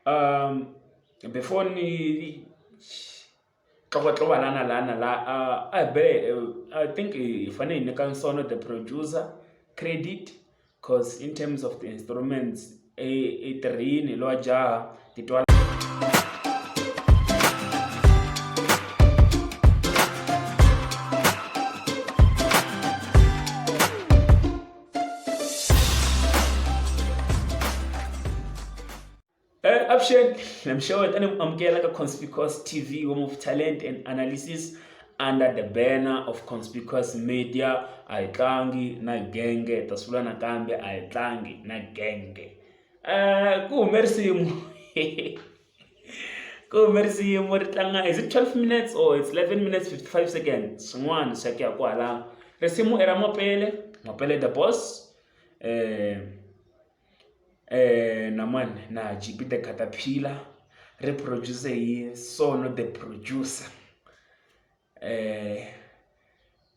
Um before ni tlokotloko lana lana la a be I think hi fanele hi nyika Sono the producer credit coz in terms of the instruments i tirhile lowa jaha ti twa. Uh, Upshen, I'm sure that I'm amukela ka Conspicuous TV, home of talent and analysis under the banner of Conspicuous Media. I tlangi na genge, tasula na kambe I tlangi na genge. Uh, ku hume risimu. ku hume risimu ri tlanga is it twelve minutes or it's eleven minutes fifty five seconds swin'wana swa ku ya kwalano risimu i ra mapele mapele the boss um na mani na G_P the caterpillar ri produce hi Sono the producer.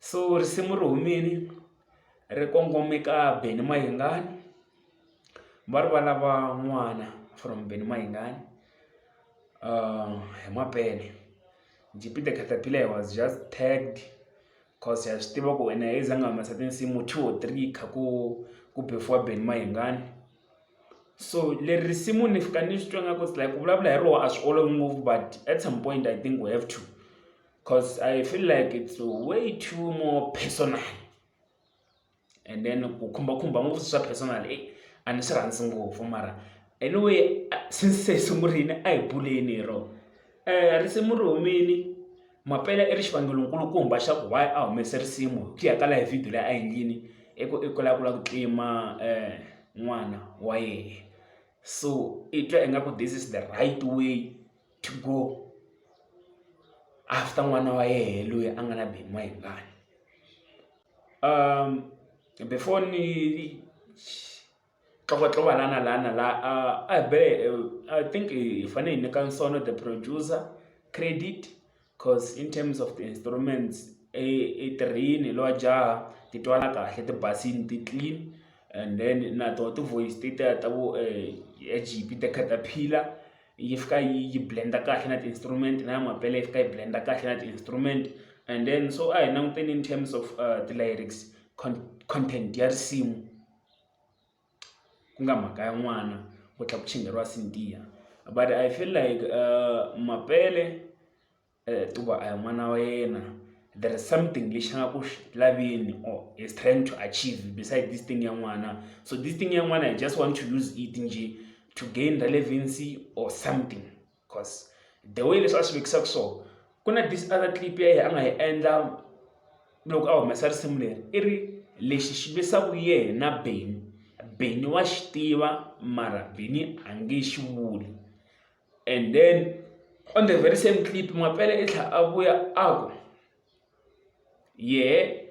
so risimu ri humile ri kongome ka Benny Mayengani va ri va lava n'wana from Benny Mayengani hi mapele J_P the caterpillar he was just tagged cause ha swi tiva ku wena a za a nga humesa tinsimu two or three kha ku ku beefiwa Benny Mayengani. So leri risimu ni fika ni swi twa nga ku it's like ku vulavula hi roho a swi olovi ngopfu but at some point i think we have to because i feel like it's way too more personal and then ku khumbakhumba ngopfu swi swa personal e a ni swi rhandzi ngopfu mara anyway since se hi sungurile a hi buleni hi rona. Eh, risimu ri humile mapele i ri xivangelonkulukumba xa ku why a humese risimu hi ku ya ka laha hi vhidiyo leyi a endlini i ku i ku lava ku lava ku tlima um n'wana wa yena so i twa ingaku this is the right way to go after n'wana wa yena loyi a nga na beni wa yingani um before ni ka va tlo va lana lana la a a hi be i think hi fanele hi nyika nsono the producer credit cause in terms of the instruments i i tirhile hi lowa jaha ti twala kahle ti basile ti clean and then na toho ti voice ti ta ta vo Egipet ta caterpillar yi fika yi yi blend kahle na ti-instrument na ya mampela yi fika yi blend kahle na ti-instrument and then so a hi languteni in terms of ti-lyrics content ya risimu. ku nga mhaka ya n'wana ku tlhela ku chingeriwa Cynthia but I feel like Mapele hikuva a hi n'wana wa yena there is something lexi a nga ku xi laveni or he is trying to achieve besides this thing ya n'wana so this thing ya n'wana he just want to use it njhe to gain relevancy or something. cause the way leswi a swi vekisaka swona ku na this other clip ya yena a nga yi endla loko a humesa risimu leri i ri lexi xi lwisaka yena beni beni wa xi tiva mara beni a nge xi vuli and then on the very same clip mapele i tlhela a vuya a ku yena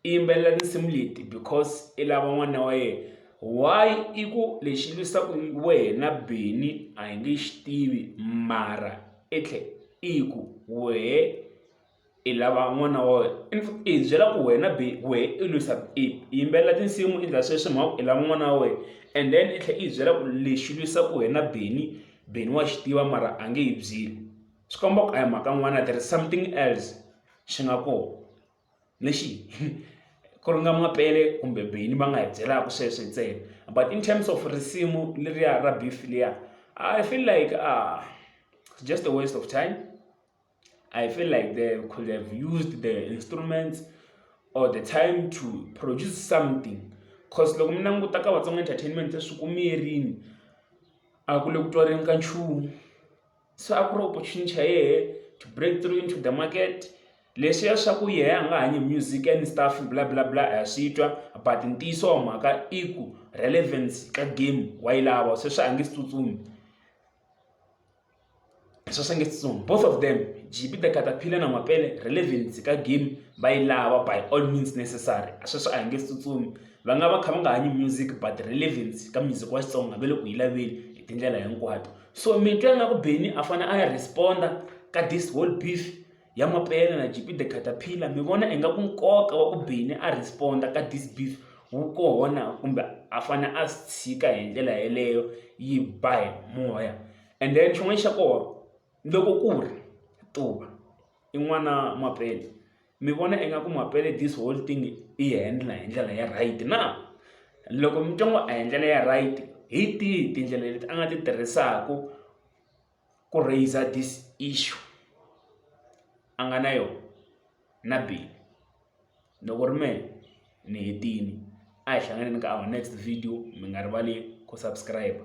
i yimbelela tinsimu leti because i lava n'wana wa yena why i ku lexi lwisaku wena Benny a hi nge xi tivi mara i tlhe i ku wehe i lava n'wana wa wena i hi byela ku wena Benny wehe i lwisa i yimbelela tinsimu i endla sweswi mhaka i lava n'wana wa wena and then i tlhe i hi byela ku lexi lwisaku wena Benny Benny wa xi tiva mara a nge yi byeli. Xikombo a hi mhaka n'wana there is something else xi nga kona lexi ku ri nga mapele kumbe beyini va nga hi byelaka sweswo ntsena but in terms of risimu leriya ra beef liya i feel like ah it's just a waste of time i feel like they could have used the instruments or the time to produce something cause loko mi languta ka vatsonga entertainment swi kumiyerini a ku le ku twareni ka nchumu so a ku ri opportunity xa yehe to break through into the market leswiya swa ku yehe a nga hanyi music and stuff bla bla bla ha swi twa but ntiyiso wa mhaka i ku relevance ka game wa yi lava se swi a nge si tsutsumi swa swi nge si tsutsumi both of them gb the catapillar na mapele relevance ka game va yi lava by all means necessary a sweswi a hi nge si tsutsumi va nga va kha va nga hanyi music but relevance ka music wa xitsonga va le ku yi laveni hi tindlela hinkwato so mi twa nga ku beni a fane a ya responda ka this whole beef ya mapele na gp the caterpillar mi vona i nga ku nkoka wa ku beni a responda ka this beef wu kona kumbe a fane a swi tshika hi ndlela yeleyo yi ba hi moya and then xin'wana xa kona loko ku ri tuva i n'wana Mapele. Mi vona ingaku Mapele this whole thing i yi handle hi ndlela ya right na? Loko mi twa ngo a hi ndlela ya right, hi tihi tindlela leti a nga ti tirhisaku ku raiser this issue a nga na yona na Billy? Ni ku ri mehe ni hetile. A hi hlanganeni ka our next video, mi nga rivali ku subscribe-a.